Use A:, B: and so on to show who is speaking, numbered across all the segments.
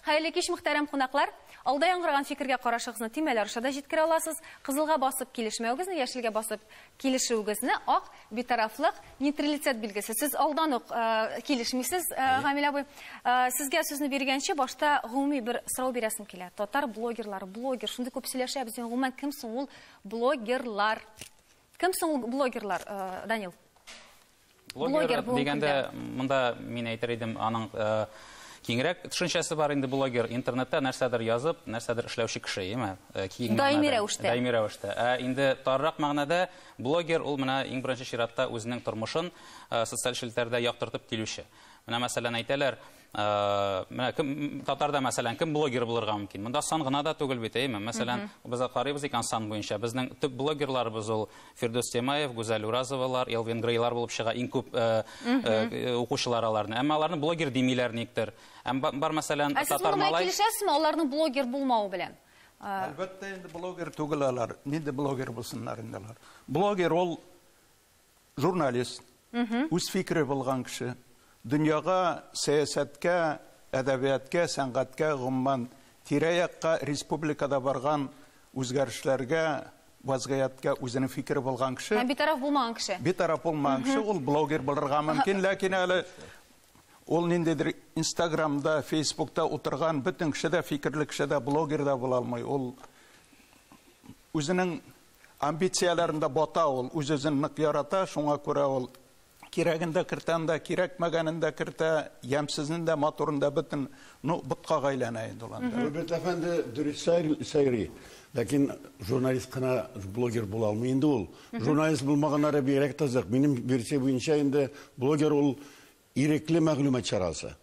A: Хәерле кич, мөхтәрәм кунаклар! Алда яңгыраган фикергә карашыгызны тимәләр аша да җиткерә аласыз. Кызылга басып килешмәвегезне, яшелгә басып килешүегезне, ак, битарафлык, нейтралитет билгесе. Сез алдан ук килешмисез, Гамил абый. Сезгә сүзне биргәнче, башта гомуми бер сорау бирәсем килә. Татар блогерлары, блогер, шундый күп сөйләшәбез, гомумән, кем соң ул блогерлар? Кем соң ул блогерлар, Данил?
B: Блогер дигәндә, монда мин әйтер идем, аның киңрәк төшенчәсе бар инде. Блогер, интернетта нәрсәдер язып, нәрсәдер эшләүче кеше, яме? Даими рәвештә.
A: Даими рәвештә. Ә
B: инде тарырак мәгънәдә блогер ул менә иң беренче чиратта үзенең тормышын социаль челтәрдә яктыртып килүче. Менә мәсәлән әйтәләр, Э, менә кем татарда мәсәлән кем блогер булырга мөмкин монда сан гына да түгел бит әйеме мәсәлән без карыйбыз икән сан буенча безнең төп блогерларыбыз ул фирдүс темаев гүзәл уразовалар элвин грейлар булып чыга иң күп э, э, укучылар аларны әмма аларны блогер димиләр никтер әм бар мәсәлән татар малай килешәсезме аларның
A: блогер булмавы белән әлбәттә инде
C: блогер түгел алар нинди блогер булсыннар инде алар блогер ул Журналист, үз фикере булган кеше. Дөньяга, сәясәткә, әдәбияткә, сәнгатькә, гомумән, тирә-якка, республикада барган үзгәрешләргә, вазгыятькә үзенең фикере булган кеше. Һәм битараф булмаган кеше.
A: Битараф булмаган кеше,
C: ул блогер булырга мөмкин, ләкин әле ул ниндидер Инстаграмда, Фейсбукта утырган бөтен кеше дә фикерле кеше дә, блогер да була алмый. Ул үзенең Амбицияләрендә бата ул, үз-үзен нык ярата, шуңа күрә ул кирәген дә кертә анда, кирәкмәгәнен дә кертә, ямьсезен дә, матурын да, бөтен, ну, боткага әйләнә инде ул анда. Роберт әфәнде дөрес
D: сайрый, ләкин журналист кына блогер була алмый инде ул. Журналист булмаганнары бигрәк кызык. Минем версия буенча инде блогер ул Ирекле мәгълүмат чарасы.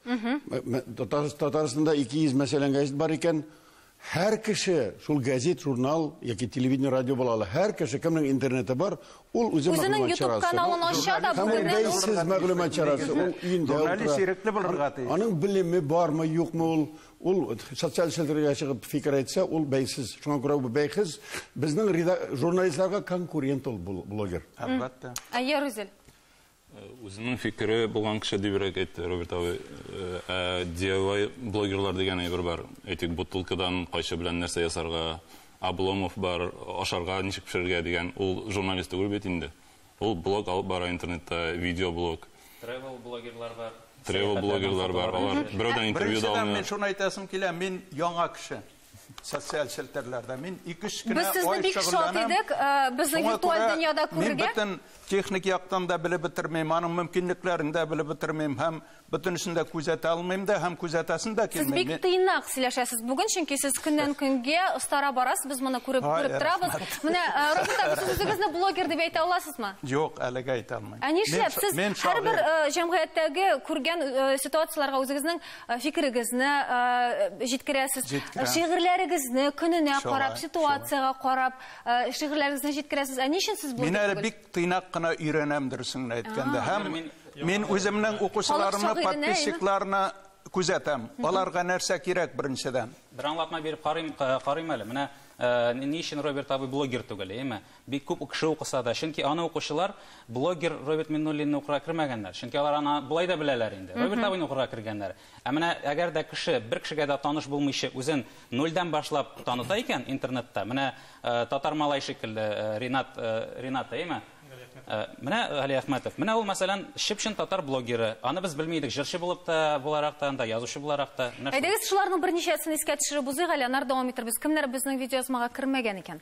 D: Татарстанда 200 мәсәлән газет бар икән, һәр кеше шул газет, журнал яки телевидение, радио була ала. Һәр кеше кемнең интернеты бар, ул үзе мәгълүмат чарасы. Үзенең YouTube каналын ача да
A: бүгеннән үк. Бәйсез мәгълүмат
D: чарасы. Ул өендә утыра. Журналист ирекле булырга
C: тиеш. Аның белеме бармы,
D: юкмы ул? Ул социаль челтәргә чыгып фикер әйтсә, ул бәйсез. Шуңа күрә бу бәйсез. Безнең журналистларга конкурент ул блогер. Әлбәттә. Әйе,
C: Рүзел.
E: Үзенең фикере булган кеше дибрәк әйтте Роберт абый. Ә DIY блогерлар дигән әйбер бар. Әйтик, бутылкадан кайчы белән нәрсә ясарга, Обломов бар, ашарга ничек пешерергә дигән. Ул журналист түгел бит инде. Ул блог алып бара интернетта, видеоблог. Тревел блогерлар
B: бар. Тревел блогерлар
E: бар. Алар берәүдән интервью да алмыйлар. Беренчедән, мин шуны әйтәсем килә,
C: мин яңа кеше. социаль челтәрләрдә мин ике өч кенә ай бик шат
A: идек безне виртуаль дөньяда күрергә мин бөтен техник
C: яктан да белеп бетермим аның мөмкинлекләрен дә белеп бетермим һәм бөтенесен дә күзәтә алмыйм да һәм күзәтәсен дә килми сез бик тыйнак
A: сөйләшәсез бүген чөнки сез көннән көнгә остара барасыз без моны күреп күреп торабыз менә роберт абый сез үзегезне блогер дип әйтә аласызмы юк әлегә әйтә
C: алмыйм ә нишләп сез
A: һәрбер җәмгыятьтәге күргән ситуацияләргә үзегезнең фикерегезне җиткерәсез. Шигырьләрегезне көненә карап, ситуациягә карап, шигырьләрегезне җиткерәсез. Ә ни өчен сез Мин әле бик тыйнак
C: кына өйрәнәм дөресен генә әйткәндә. Һәм мин үземнең укучыларымны, подписчикларны күзәтәм. Аларга нәрсә кирәк беренчедән? Бер аңлатма биреп
B: карыйм әле. Менә ни өчен Роберт абый блогер түгел, әйеме? Бик күп кеше укыса да, чөнки аны укучылар блогер Роберт Миннуллинны укырга кермәгәннәр, чөнки алар аны болай да беләләр инде, Роберт абыйны укырга кергәннәр. Ә менә әгәр дә кеше, бер кешегә дә таныш булмыйча, үзен нульдән башлап таныта икән интернетта, менә татар малай шикелле, Ринат, Ринат әйеме? Менә Галиәхмәтов. Менә ул, мәсәлән, чып-чын татар блогеры. Аны без белми идек җырчы булып та, буларак та анда, язучы буларак та. Менә шул. Әйдәгез, шуларның
A: берничәсен искә төшереп узыйк әле, аннары дәвам итәрбез. Кемнәр безнең видеоязмага кермәгән икән?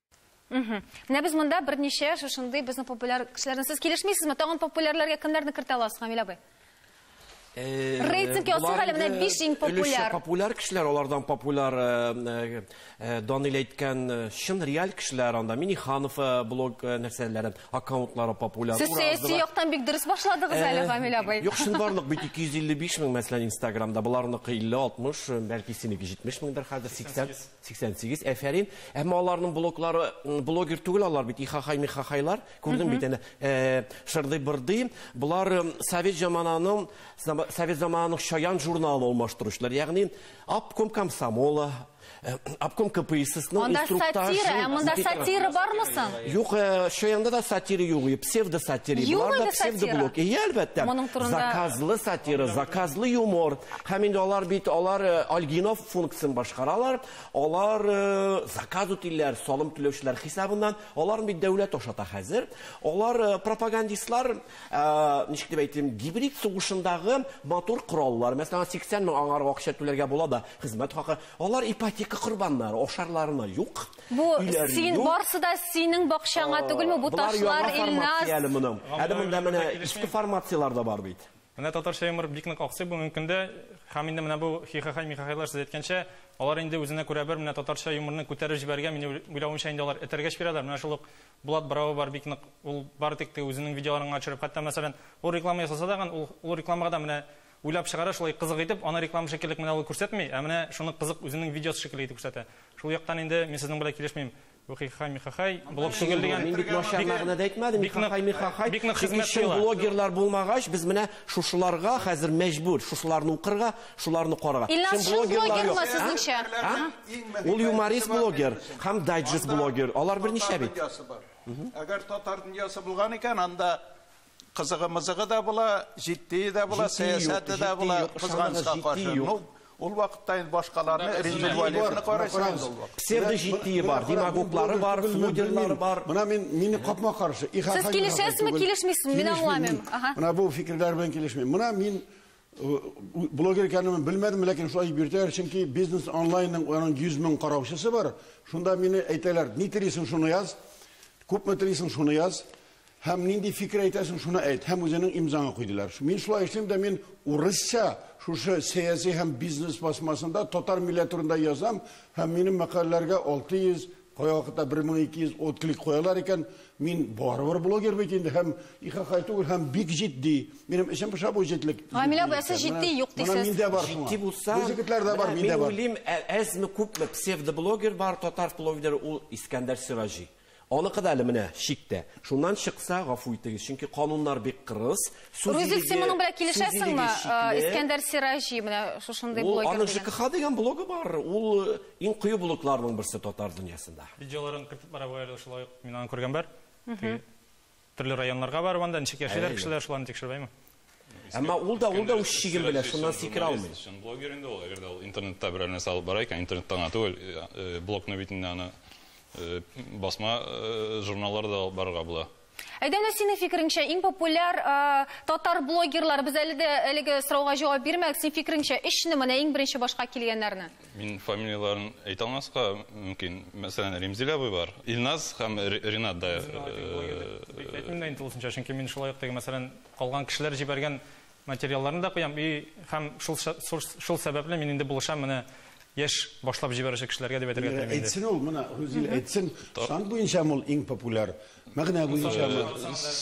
A: Менә без монда берничә шушындый безнең популяр кешеләрне сез килешмисезме? Тагын популярларга кемнәрне кертә аласыз, Камил абый? Э, Рейтинг ясый әле менә 5 иң популяр. Популяр кешеләр, алардан
F: популяр э, э, Данил әйткән чын реаль кешеләр анда. Миниханов блог нәрсәләре, аккаунтлары популяр. Сез сәяси яктан
A: бик дөрес башладыгыз әле, Фамиль абый. Юк, шын барлык бит
F: 255 мең мәсәлән Инстаграмда, буларныкы 50, 60, бәлки синеке 70 меңдер хәзер 80. 88, әфәрин. Әмма аларның блоклары, блогер түгел алар бит, ихахай михахайлар. Күрдең бит әнә, шырдый бырдый. Болар совет замананың, совет замананың шаян журналын алмаштыручылар. Ягъни, обком комсомола, обком КПИССның инструктажы. Монда сатира, ә монда сатира
A: бармы соң? Юк, шаянда
F: да сатира юк, псевдо сатира. Юк, да псевдо блок. И, әлбәттә. Заказлы сатира, заказлы юмор. Һәм инде алар бит, алар Альгинов функциясен башкаралар, алар заказ үтиләр салым түләүчеләр хисабыннан, аларны бит дәүләт ашата хәзер. Алар пропагандистлар, ничек дип әйтим, гибрид сугышындагы матур кораллар, мәсәлән, 80 мең аңарга акча түләргә була да, хезмәт хакы, алар ипотека корбаннары, ашарларына юк. Бу син
A: барсы да синең бакчаңа түгелме бу ташлар, Илназ? Әле монда
F: менә иске формацияләр дә бар бит. Менә татарча юмор
G: бик нык аксый бүгенге көндә. Һәм инде менә бу хихахай-михахайлар, сез әйткәнчә, алар инде үзенә күрә бер менә татарча юморны күтәреп җибәргән, минем уйлавымча инде алар этәргәч бирәләр. Менә шул ук Булат Бравый бар бик нык, ул бары тик теге үзенең видеоларын гына төшереп, хәтта мәсәлән, ул реклама ясаса да гын, ул ул рекламага да менә уйлап чыгара шулай кызык итеп, аны реклама шикеллек менә ул күрсәтми, ә менә шуны кызык үзенең видеосы шикелле итеп күрсәтә. Шул яктан инде мин сезнең белән килешмим. Ухихай михахай, блог түгел дигән. Мин бик начар мәгънәдә
F: әйтмәдем. Бик хай михахай. Бик нык хезмәт кыла.
G: Блогерлар булмагач,
F: без менә шушыларга хәзер мәҗбүр, шушыларны укырга, шуларны карарга. Ильназ шул блогерлар
A: сезнеңчә? Ул
F: юморист блогер һәм дайджест блогер. Алар берничә бит. Әгәр
C: татар дөньясы булган икән, анда Кызыгы-мызыгы да була, җитдие дә була, сәясәте дә була, кызганычка каршы. Ну, ул вакытта инде башкаларны Рензил Вәлиевны карыйсың. Псевдоҗитдие
F: бар, демагоглары бар, флудерлары бар. Менә мин мине капма
D: каршы. Сез килешәсезме,
A: килешмисезме? Мин аңламыйм. Менә бу фикерләр
D: белән килешмим. Менә мин Блогер икәнен белмәдем, ләкин шулай дип йөртәләр, чөнки бизнес онлайнның аның 100 мең караучысы бар. Шунда мине әйтәләр, ни телисең шуны яз, күпме телисең шуны яз, һәм нинди фикер әйтәсең шуны әйт, һәм үзеңнең имзаңа куй диләр. Мин шулай эшлим дә мин урысча шушы сәяси һәм бизнес басмасында татар милләте турында язам, һәм минем мәкаләләргә 600 Кайвакытта 1200 отклик куялар икән, мин барыбер блогер бит инде һәм ихахай түгел һәм бик җитди. Минем эчем пыша бу җитлек. Гамилә апа, сез җитди
A: юк дисез. Менә миндә бар шуңа. Җитди булса,
D: бу җегетләрдә
F: бар, миндә
D: бар. Мин уйлыйм, әзме
F: күпме псевдоблогер бар, татар блогеры ул Искәндәр Сираҗи. Аныкы да әле менә чиктә. Шуннан чыкса, гафу итегез, чөнки кануннар бик кырыс. Рузик, син моның
A: белән килешәсеңме? Искәндәр Сираҗи, менә шушындый блогер. Ул аның ЖКХ дигән
F: блогы бар. Ул э, иң кыю блогларның берсе татар дөньясында. Видеоларын кертеп бара
G: бу әле шулай ук. Мин аны күргән бар. Төрле районнарга барып анда ничек яшиләр кешеләр, шуларны тикшербәйме? Әмма
F: ул да ул да үз чиген белә, шуннан сикерә алмый. Чын блогер инде ул, әгәр дә
E: ул интернетта берәр нәрсә алып бара икән, интернетта гына түгел, э, э, блокны битендә аны басма журналларда алып барырга була. Әйдәнә синең
A: фикереңчә иң популяр татар блогерлар без әле дә әлеге сорауга җавап бирмәдек. Син фикереңчә өчне менә иң беренче башка килгәннәрне? Мин фамилияләрен
E: әйтә алмаска мөмкин. Мәсәлән, Ремзил абый бар. Илназ һәм Ринат да. Әйтмим
G: дә инде тулысынча, чөнки мин шулай ук теге мәсәлән калган кешеләр җибәргән Материалларын да куям и һәм шул шул сәбәпле мин инде булышам менә яшь башлап җибәрүче кешеләргә дип әйтергә телим инде. Әйтсен ул менә Рузил
D: әйтсен, сан буенча ул иң популяр. Мәгънә буенча.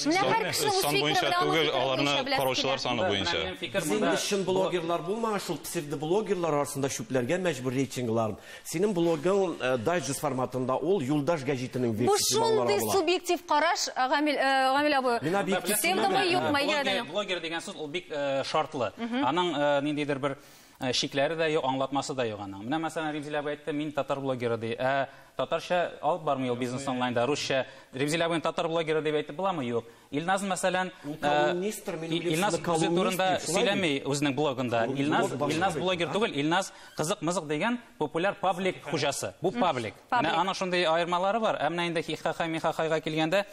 D: Менә һәр
A: кеше үз фикере буенча түгел, аларны
E: караучылар саны буенча. Без инде чын
F: блогерлар булмаган шул псевдоблогерлар арасында чүпләргә мәҗбүр рейтингларын. Синең блогың э, дайджест форматында ул Юлдаш гәҗитенең Бу версиясе балалар шундый алыла. субъектив
A: караш, э, Гамил, э, Гамил абый. Мин объектив Сен дә булмый, юкмы, әйгә Блогер, дә. блогер дигән сүз ул бик
B: э, шартлы. Аның э, ниндидер бер э, шикләре дә юк, аңлатмасы да юк аның. Менә мәсәлән Римзилә абый әйтте, мин татар блогеры ди. Ә татарча алып бармый ул бизнес онлайнда, русча. Римзилә абыйны татар блогеры дип әйтеп буламы? Юк. Илназ мәсәлән, Илназ үзе турында сөйләми үзенең блогында. Илназ, Илназ блогер түгел, Илназ кызык-мызык дигән популяр паблик хуҗасы. Бу паблик. Менә аның шундый аермалары бар. Ә менә инде хихахай михахайга килгәндә,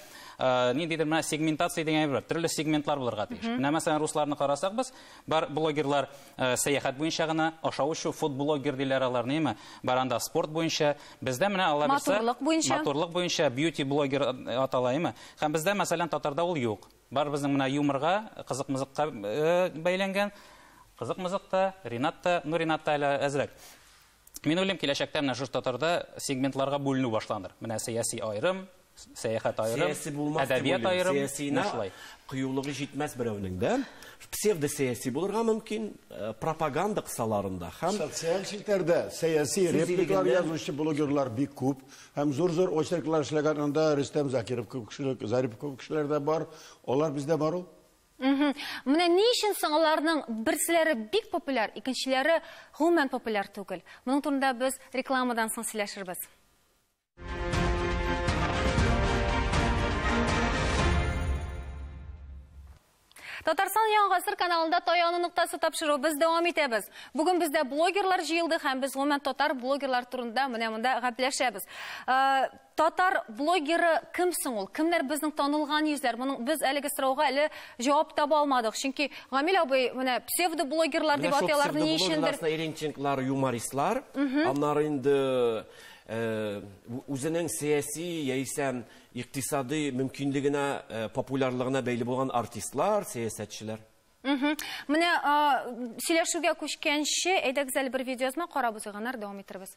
B: ниндидер менә сегментация дигән әйбер бар. Төрле сегментлар булырга тиеш. Менә мәсәлән, русларны карасак без, бар блогерлар Э, сәяхәт буенча гына ашау эчү фуд блогер диләр алар неме бар анда спорт буенча бездә менә алла бирсә матурлык буенча матурлык буенча бьюти блогер э, атала име һәм бездә мәсәлән татарда ул юк бар безнең менә юморга кызык мызыкка э, бәйләнгән кызык мызык та ринат та ну ринат та әле әзрәк Мин уйлыйм, киләчәктә менә шушы татарда сегментларга бүленү башланыр. Менә сәяси аерым, сәяхәт аерым, әдәбият аерым. Сәясина кыюлыгы җитмәс
F: берәүнең дә. Псевдосәяси булырга мөмкин, э, пропаганда кысаларында һәм социаль челтәрдә
D: сәяси репликалар язучы блогерлар бик күп һәм зур-зур очерклар эшләгән анда Рөстәм Закиров кебек кешеләр, Зарипов кебек кешеләр дә бар. Алар бездә бар ул. Менә
A: ни өчен соң аларның берселәре бик популяр, икенчеләре гомумән популяр түгел? Моның турында без рекламадан соң сөйләшербез. Татарстан яңа гасыр каналында таяну ноктасы тапшыру без дәвам итәбез. Бүген бездә блогерлар җыелды һәм без гомумән татар блогерлар турында менә монда гәпләшәбез. Э, Татар блогеры кем соң ул? Кемнәр безнең танылган йөзләр? Моның без әлеге сорауга әле җавап таба алмадык. Чөнки Гамил абый менә псевдоблогерлар дип атыйлар ни өчендер. Иренченклар,
F: юмористлар. Аннары инде э, үзенең сәяси яисә икътисадый мөмкинлегенә, э, популярлыгына бәйле булган артистлар, сәясәтчеләр.
A: Менә сөйләшүгә күчкәнче, әйдәгез әле бер видеоязма карап узыйк, аннары дәвам иттербез.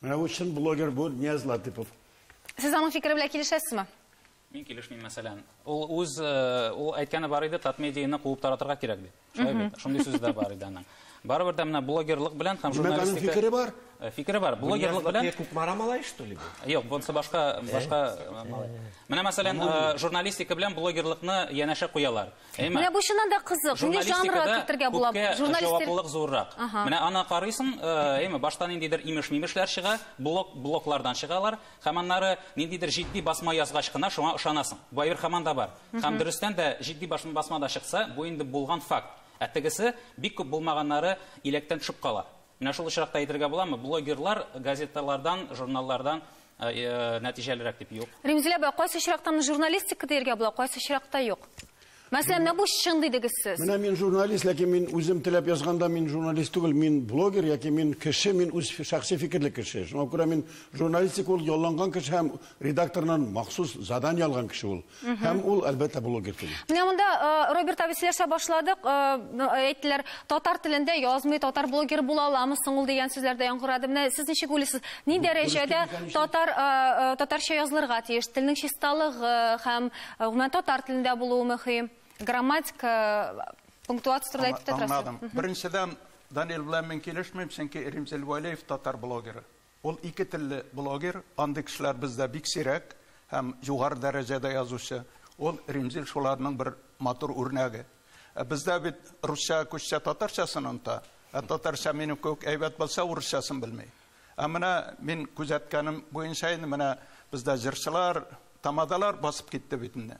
H: Менә
D: бу чын блогер бу Нияз Латыпов. Сез аның
A: фикере белән килешәсезме? Мин килешмим,
B: мәсәлән. Ул үз э, ул әйткәне бар иде, Татмедианы куып таратырга кирәк дип. Шулай бит. Шундый сүз дә бар иде аның. Барыбер дә менә блогерлык белән һәм Димәк, аның журналистика фикере бар. Э,
D: Фикере бар. Блогерлык
B: белән Блогерлык Кукмара малай, что ли?
F: бу? Юк, бунсы башка
B: башка э, малай. Менә мәсәлән, э, журналистика белән блогерлыкны янәшә куялар. Әйме? Менә бу чыннан да
A: кызык. Нинди жанрга кертергә була? Журналистлык зуррак.
B: Менә ана карыйсың, э, әйме, башта ниндидер имеш-мимешләр чыга, блок блоклардан чыгалар, һәм аннары ниндидер җитди басма язгач кына шуңа ышанасың. Бу әйбер һаман да бар. Һәм дөрестән дә җитди басма да чыкса, бу инде булган факт. Ә тегесе бик күп булмаганнары иләктән төшеп кала. Менә шул очракта әйтергә буламы, блогерлар газеталардан, журналлардан нәтиҗәлерәк дип? Юк. Римзилә апа, кайсы очракта
A: моны журналистика диергә була, кайсы очракта юк? Мәсәлән, менә бу чын дидегез сез. Менә мин журналист, ләкин
D: мин үзем теләп язганда мин журналист түгел, мин блогер яки мин кеше, мин үз шәхси фикерле кеше. Шуңа күрә мин журналистика ул ялланган кеше һәм редакторнан махсус задание алган кеше ул. Һәм ул, әлбәттә, блогер түгел. Менә монда э,
A: Роберт абый сөйләшә башладык. Э, әйттеләр, татар телендә язмый, татар блогер була аламы соң ул дигән сүзләр дә яңгырады. Менә сез ничек уйлыйсыз, ни дәрәҗәдә татар э, татарча язылырга тиеш? Телнең чисталыгы һәм гомумән татар телендә булуы мөһим. Грамматика, пунктуация турында әйтеп тә торасыз. Аңладым. Беренчедән,
C: Данил белән мин килешмим, чөнки Римзил Вәлиев татар блогеры. Ул ике телле блогер, андый кешеләр бездә бик сирәк һәм югары дәрәҗәдә язучы. Ул Римзил шуларның бер матур үрнәге. Ә бездә бит русча күчсә татарчасын оныта, ә татарча минем кебек әйбәт булса урысчасын белми. Ә менә мин күзәткәнем буенча инде менә бездә җырчылар, тамадалар басып китте бит инде.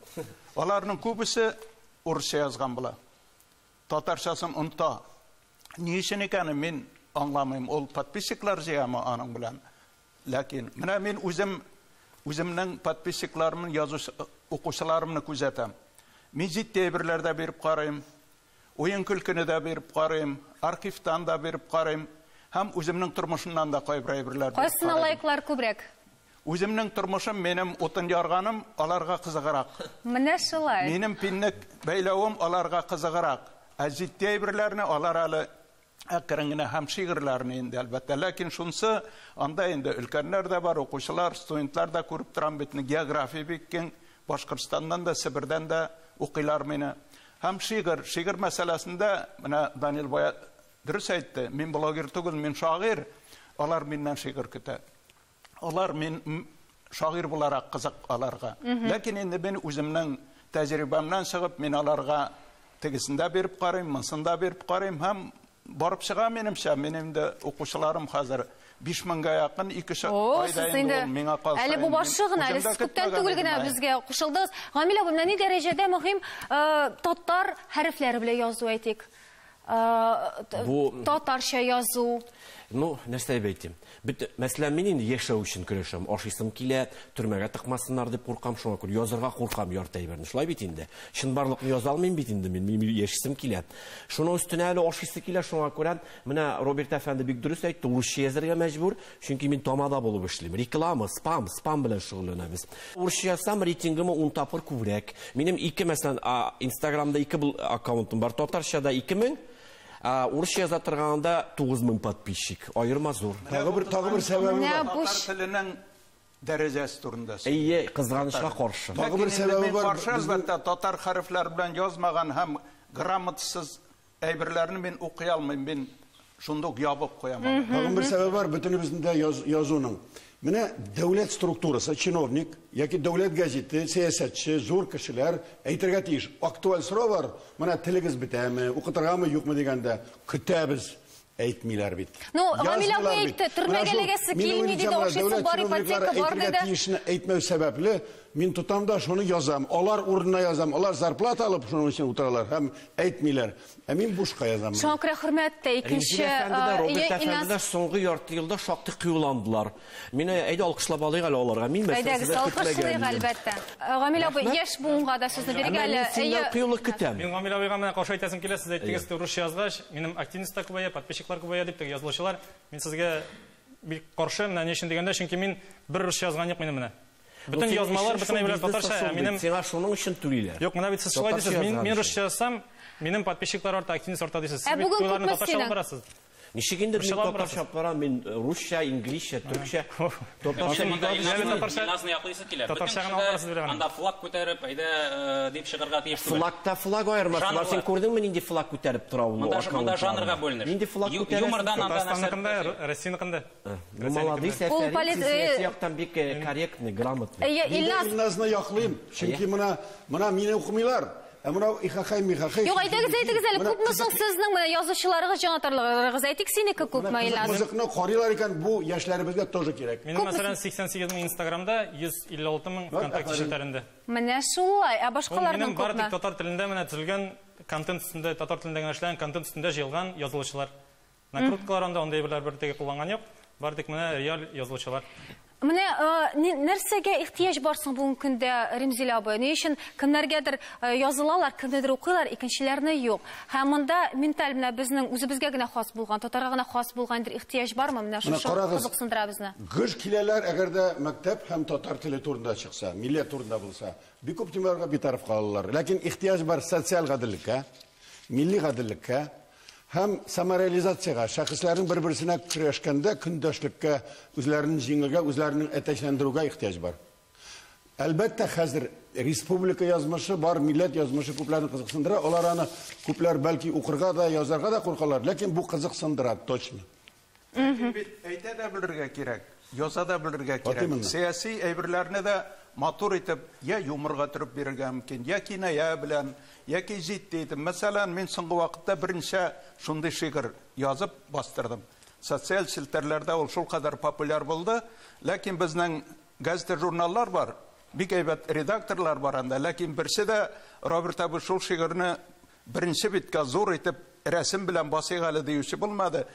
C: Аларның күбесе урысча язган була. Татарчасын оныта. Ни өчен икәнен мин аңламыйм. Ул подписчиклар җыямы аның белән? Ләкин менә мин үзем үземнең подписчикларымны, язучы укучыларымны күзәтәм. Мин җитди әйберләр дә биреп карыйм, уен-көлкене дә биреп карыйм, архивтан да биреп карыйм һәм үземнең тормышымнан да кайбер әйберләр биреп карыйм. Кайсына лайклар
A: күбрәк? Үземнең
C: тормышым, минем утын ярганым аларга кызыграк. Менә шулай.
A: Минем пиннек
C: бәйләвем аларга кызыграк. Ә җитди әйберләрне алар әле әкрен генә һәм шигырьләрне инде, әлбәттә. Ләкин шунсы, анда инде өлкәннәр дә бар, укучылар, студентлар да, күреп торам бит, география бик киң, Башкортстаннан да, Себердән дә укыйлар мине. Һәм шигырь, шигырь мәсьәләсендә, менә Данил бая дөрес әйтте, мин блогер түгел, мин шагыйрь, алар миннән шигырь көтә. Алар мин шагыйрь буларак кызык аларга. Ләкин инде мин үземнең тәҗрибәмнән чыгып, мин аларга тегесен дә биреп карыйм, монысын да биреп карыйм һәм барып чыга, минемчә, минем инде укучыларым хәзер 5000гә якын, ике ша- О, айда сез инде инде ул миңа калса. әле бу инде мин башы гына, әле үзем дә
A: сез күптән көтмәгән түгел идем, генә әй. безгә кушылдыгыз. Гамилә апа, менә ни дәрәҗәдә мөһим э, татар хәрефләре белән язу, әйтик. Татарча язу. Ну,
F: нәрсә дип әйтим? Бит, мәсәлән, мин инде яшәү өчен көрәшәм. Ашыйсым килә, төрмәгә тыкмасыннар дип куркам, шуңа күрә язырга куркам ярты әйберне. Шулай бит инде. Чынбарлыкны яза алмыйм бит инде мин, мин яшисем килә. Шуның өстенә әле ашыйсы килә, шуңа күрә менә Роберт әфәнде бик дөрес әйтте, урысча язарга мәҗбүр, Чөнки мин тамада булып эшлим. Реклама, спам, спам белән шөгыльләнәбез. Урысча язсам, рейтингымы ун тапкыр күбрәк. Минем ике, мәсәлән, Инстаграмда ике аккаунтым бар. Татарчада 2000, урысча яза торганда 9000 подписчик. Аерма зур. Тагы бер тагы бер
D: сәбәбе бар. Татар теленең
C: дәрәҗәсе турында сөйлә. Әйе, кызганычка
F: каршы. Тагы бер сәбәбе бар.
D: Каршы, әлбәттә, татар
C: хәрефләре белән язмаган һәм грамотасыз Әйберләрне мин укый алмыйм, мин шунда ук ябып куям. Тагын бер сәбәп бар
D: бөтенебезнең дә язуның. Менә дәүләт структурасы, чиновник яки дәүләт газеты, сәясәтче, зур кешеләр әйтергә тиеш. Актуаль сорау бар, менә телегез бетәме, укытыргамы, юкмы дигәндә, көтәбез. Әйтмиләр бит. Ну, Гамилә бу
A: әйтте, төрмәгә эләгәсе килми диде, ашыйсы бар, ипотека бар диде. Тиешне әйтмәү сәбәпле,
D: мин тотам да шуны язам. Алар урынына язам. Алар зарплата алып шуның өчен утыралар һәм әйтмиләр. Ә мин бушка язам. Шуңа күрә хөрмәт тә
A: икенче. Рензилә әфәнде дә, Роберт әфәнде
F: дә соңгы ярты елда шактый кыюландылар. Мина, әйдә алкышлап алыйк әле аларга. Мин мәсьәләсен Әйдәгез, дә алкышлыйк, көтмәгәнмен.
A: әлбәттә. Э, Гамил абый, Рәхмәт. яшь буынга да сүзне бирик Әмма әле. мин синнән Әйе, кыюлык көтәм.
F: Мин Гамил абыйга менә каршы
G: әйтәсем килә, сез әйттегез, Әйе. теге русча язгач, минем активность та күбәя, подписчиклар күбәя дип, теге язылучылар. Мин сезгә бик каршы, менә ни өчен дигәндә, чөнки мин бер русча язган юк минем менә. Ну, Бөтен синең язмалар өчен бөтенләй шул белән бизнес та татарча, шул ә бит. минем Сиңа шуның өчен түлиләр.
F: Юк, менә бит сез шулай Татарча дисез,
G: мин, язган мин өчен. русча язсам, минем подписчиклар арта, активность арта дисез. Ә Сез бит бүген күпләрне күпме татарча алып синең? барасыз. Ничек инде мин
F: татарча кара, мин э, русча, инглизчә, төркчә. Татарча бик
B: аз ишетәм. Миназны яклыйсы килә. Татарча гына аласыз биргән.
G: Анда флаг күтәреп, әйдә
B: э, дип чыгарга тиеш түгел. Флагта флаг аермасы
F: бар. Син күрдеңме нинди флаг күтәреп тора ул? Монда монда жанрга бүленеш.
B: Нинди флаг күтәрә? Юмордан
F: анда Татарстанныкында,
B: Россияныкында.
G: Э, ну, молодец,
F: сәтәрик, сәяси яктан бик корректный, грамотный. Илназ. Илназны
D: яклыйм, чөнки менә менә мине укымыйлар. Ә менә ихахай михахай. Юк, әйтегез, әйтегез әле,
A: күпме соң сезнең менә язучыларыгыз, җанатарларыгыз? Әйтик, синеке күпме Илназ? Музыкны карыйлар икән,
D: бу яшьләребезгә тоже кирәк. Минем, мәсәлән, 88
G: мең Инстаграмда, 156 мең ВКонтакте челтәрендә. Менә шулай.
A: Ә башкаларның күпме? Минем бары тик татар
G: телендә менә
A: төзелгән
G: контент өстендә, татар телендә генә эшләгән контент өстендә җыелган язылучылар. Накруткалар анда андый әйберләр бер теге кулланган юк. Бар тик менә реаль язылучылар. Менә
A: нәрсәгә ихтыяҗ бар соң бүгенге көндә, Римзилә абый? Ни өчен кемнәргәдер язылалар, кемнедер укыйлар, икенчеләрне юк. Һәм монда менталь менә безнең үзебезгә генә хас булган, татарга гына хас булган бер ихтыяҗ бармы? Менә шушы кызыксындыра безне. Гыж киләләр, әгәр
D: дә мәктәп һәм татар теле турында чыкса, милләт турында булса. Бик күп темаларга битараф калалар. Ләкин ихтыяҗ бар социаль гаделлеккә, Милли гаделлеккә һәм самореализациягә, шәхесләрнең бер-берсенә көрәшкәндә көндәшлеккә, үзләрен җиңүгә, үзләрен әтәчләндерүгә ихтыяҗ бар. Әлбәттә, хәзер республика язмышы бар, милләт язмышы күпләрне кызыксындыра. Алар аны күпләр бәлки укырга да, язарга да куркалар, ләкин бу кызыксындыра точно. Ләкин бит
C: әйтә дә белергә кирәк, яза да белергә кирәк. Сәяси әйберләрне дә матур итеп йә юморга төреп бирергә мөмкин, йә киная белән, яки җитди итеп. Мәсәлән, мин соңгы вакытта берничә шундый шигырь язып бастырдым. Социаль челтәрләрдә ул шулкадәр популяр булды. Ләкин безнең газета-журналлар бар, бик әйбәт редакторлар бар анда, ләкин берсе дә, Роберт абый, шул шигырьне Беренче битка зур итеп рәсем белән басыйк әле диюче булмады.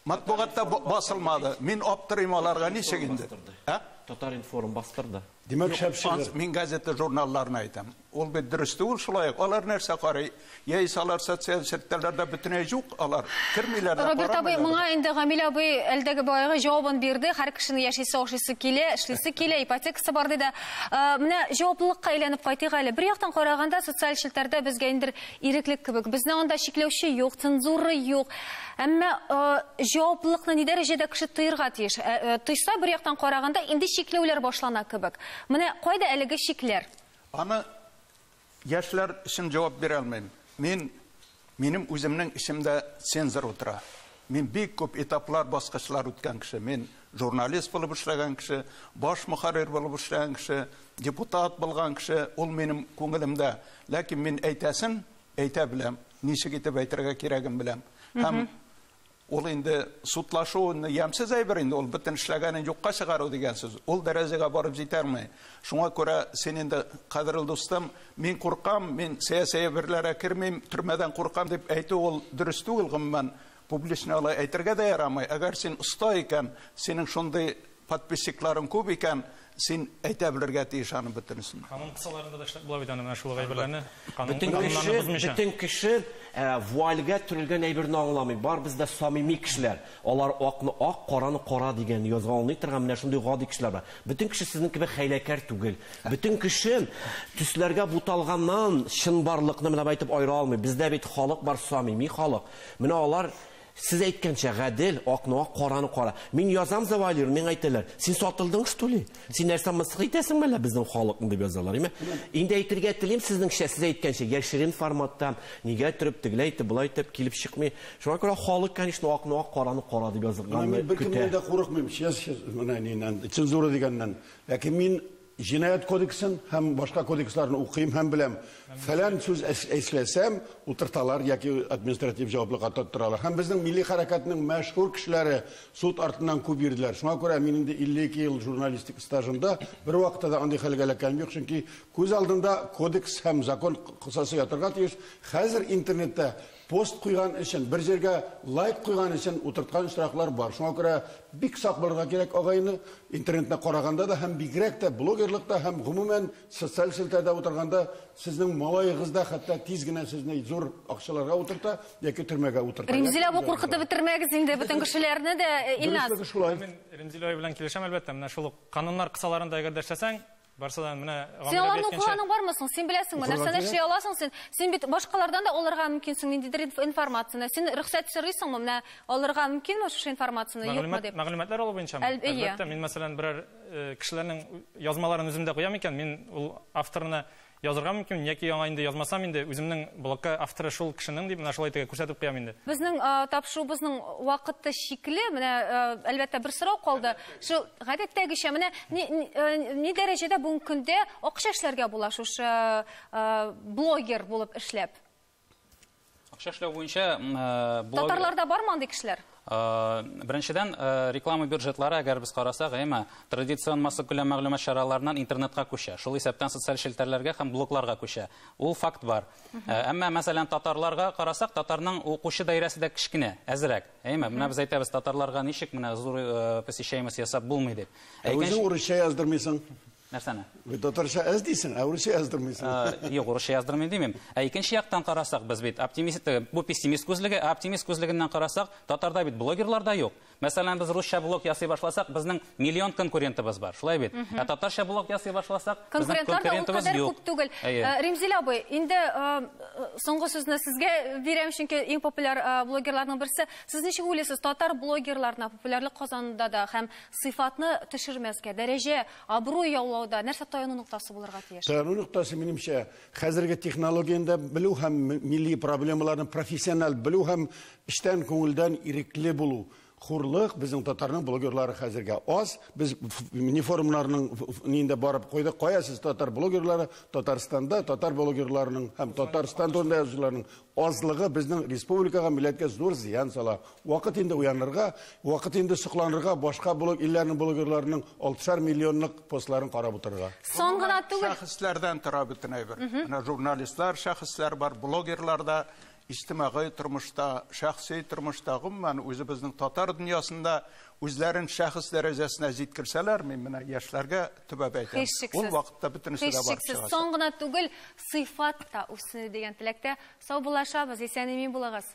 C: Матбугатта басылмады. Мин аптырыйм аларга ничек инде. Ә? Татар
F: информ бастырды. Димәк, шәп шигырь.
D: Мин газета журналларны
C: әйтәм. Ул бит дөрес түгел шулай ук. Алар нәрсә карый? Яисә алар социаль челтәрләрдә бөтенләй юк, алар кермиләр дә, Роберт абый, моңа
A: инде Гамилә абый әлдәге баягы җавабын бирде. Һәр кешенең яшисе, ашыйсы килә, эшлисе килә, ипотекасы бар диде. Э, менә җаваплылыкка әйләнеп кайтыйк әле. Бер яктан караганда, социаль челтәрдә безгә инде иреклек кебек. Безне анда чикләүче юк, цензура юк. Әмма э, җаваплылыкны ни дәрәҗәдә кеше тоерга тиеш? Э, тойса, бер яктан караганда, инде чикләүләр башлана кебек. Менә кайда әлеге чикләр? Аны
C: Яшьләр өчен җавап бирә алмыйм. Мин, минем үземнең эчемдә цензор утыра. Мин бик күп этаплар, баскычлар үткән кеше. Мин журналист булып эшләгән кеше, баш мөхәррир булып эшләгән кеше, депутат булган кеше, ул минем күңелемдә. Ләкин мин әйтәсен әйтә беләм, ничек итеп әйтергә кирәген беләм. Һәм Ул инде судлашу ямьсез әйбер инде, ул бөтен эшләгәнен юкка чыгару дигән сүз. Ул дәрәҗәгә барып җитәрме? Шуңа күрә син инде, кадерле дустым, мин куркам, мин сәяси әйберләргә кермим, төрмәдән куркам дип әйтү ул дөрес түгел, гомумән, публично алай әйтергә дә ярамый. Әгәр син оста икән, синең шундый Подписчикларың күп икән, син әйтә белергә тиеш аның бөтенесен. Канун кысаларында да эшләп
G: була бит аны, менә шул ук әйберләрне канун кануннарны бозмыйча.
F: Бөтен кеше вуальгә төрелгән әйберне аңламый. Барыбыз да самими кешеләр. Алар акны ак, караны кара дигән язга аңлый торган менә шундый гади кешеләр бар. Бөтен кеше сезнең кебек хәйләкәр түгел. Бөтен кеше төсләргә буталганнан чынбарлыкны менә байтып айыра алмый. Бездә бит халык бар, самими халык. Менә алар Сез әйткәнчә, гадел, акны ак, караны кара. Мин язам завалир, миңа әйтәләр, син сатылдың что ли? Син нәрсә мысык итәсең мәллә безнең халыкны дип язалар, име? Инде әйтергә телим сезнеңчә, сез әйткәнчә, яшерен форматта, нигә төреп, тегеләй итеп, болай итеп килеп чыкмый. Шуңа күрә халык, конечно, акны ак, караны кара дип язганны көтә. Мин беркемнән дә курыкмыйм,
D: честно, менә ниннән, цензура дигәннән. Ләкин мин Җинаять кодексын һәм башка кодексларны укыйм һәм беләм, фәлән сүз эшләсәм, утырталар яки административ җаваплылыкка тоттыралар. Һәм безнең милли хәрәкәтнең мәшһүр кешеләре суд артыннан күп йөрделәр. Шуңа күрә мин инде 52 ел журналистик стажымда бервакытта да андый хәлгә эләккәнем юк, чөнки күз алдында кодекс һәм закон кысасы ятарга тиеш. Хәзер интернетта Пост куйган өчен, бер җиргә лайк куйган өчен утырткан очраклар бар. Шуңа күрә бик сак булырга кирәк, агайне. Интернетны караганда да һәм бигрәк тә блогерлыкта һәм гомумән социаль челтәрдә утырганда сезнең малаегыз да хәтта тиз генә сезне зур акчаларга утырта яки төрмәгә утырта. Римзил абый куркытып
A: бетермәгез инде бөтен кешеләрне дә, Илназ. Дөрестлеге шулай. Мин Римзил
G: абый белән килешәм әлбәттә, менә шул ук кануннар кысаларында әгәр дә эшләсәң, Барса да менә Син аларны укыганың
A: бармы соң? Син беләсеңме, нәрсәне эшли аласың син? Син бит башкалардан да алырга мөмкинсең ниндидер информацияне. Син рөхсәт сорыйсыңмы? Менә алырга мөмкинме шушы информацияне, юкмы дип? Мәгълүматлар алу буенча
G: Әлбәттә, мин мәсәлән берәр э, кешеләрнең язмаларын үземдә куям икән, мин ул авторына язырга мөмкин, яки яңа инде язмасам инде, үземнең блокка авторы шул кешенең дип, менә шулай итеп күрсәтеп куям инде. Безнең тапшыруыбызның
A: вакыты чикле, менә әлбәттә бер сорау калды. Шул гадәттәгечә менә ни, ни, э, ни дәрәҗәдә бүгенге көндә акча эшләргә була шушы э, э, блогер булып эшләп?
B: Акча эшләү буенча э, блогер... Татарларда
A: бармы андый кешеләр? Э, Беренчедән,
B: э, реклама бюджетлары, әгәр без карасак, әйме, традицион массып күләм мәгълүмат чараларынан интернетка күчә. Шул исәптән социаль челтәрләргә һәм блогларга күчә. Ул факт бар. Әмма, мәсәлән, татарларга карасак, татарның укучы даирәсе дә кечкенә, әзрәк. Әйме, менә без әйтәбез татарларга ничек менә зур э, посещаемость ясап булмый дип. Ә үзең урысча
D: яздырмыйсың. Нәрсәне?
B: Бит татарча әз
D: дисең, ә урысча яздырмыйсың. Э, юк, урысча яздырмыйм
B: димим. Ә икенче яктан карасак, без бит оптимист, э, бу пессимист күзлеге, ә оптимист күзлегеннән карасак, татарда бит блогерлар да юк. Мәсәлән, без русча блог ясый башласак, безнең миллион конкурентыбыз бар, шулай бит? Ә татарча блог ясый башласак, безнең конкурентыбыз юк. Күп түгел. Э, Римзилә
A: абый, инде э, соңгы сүзне сезгә бирәм, чөнки иң популяр э, блогерларның берсе. Сез ничек уйлыйсыз, татар блогерларына популярлык казанында да һәм сыйфатны төшермәскә, дәрәҗә, абруй яулауда нәрсә таяну ноктасы булырга тиеш? Таяну ноктасы, минемчә,
D: хәзерге технологияне дә белү һәм милли проблемаларны профессиональ белү һәм эчтән күңелдән ирекле булу. Хурлык, безнең татарның блогерлары хәзергә аз. Без не форумнарның нинде барып койдык, кая сез татар блогерлары, Татарстанда татар блогерларының һәм Татарстан турында язучыларның азлыгы безнең республикага, милләткә зур зыян сала. Вакыт инде уянырга, вакыт инде сокланырга, башка блог илләрнең блогерларының 6 миллионлык постларын карап утырырга. Сон гына түгел.
A: Шәхесләрдән тора бөтен
C: әйбер. Менә журналистлар, шәхесләр бар, блогерлар да Иҗтимагый тормышта, шәхси тормышта, гомумән, үзебезнең татар дөньясында үзләрен шәхес дәрәҗәсенә җиткерсәләр, мин менә яшьләргә төбәп әйтәм, ул вакытта бөтенесе дә барып чыгачак. Сон гына түгел,
A: сыйфат та үсенер дигән теләктә саубуллашабыз. Исән-имин булыгыз!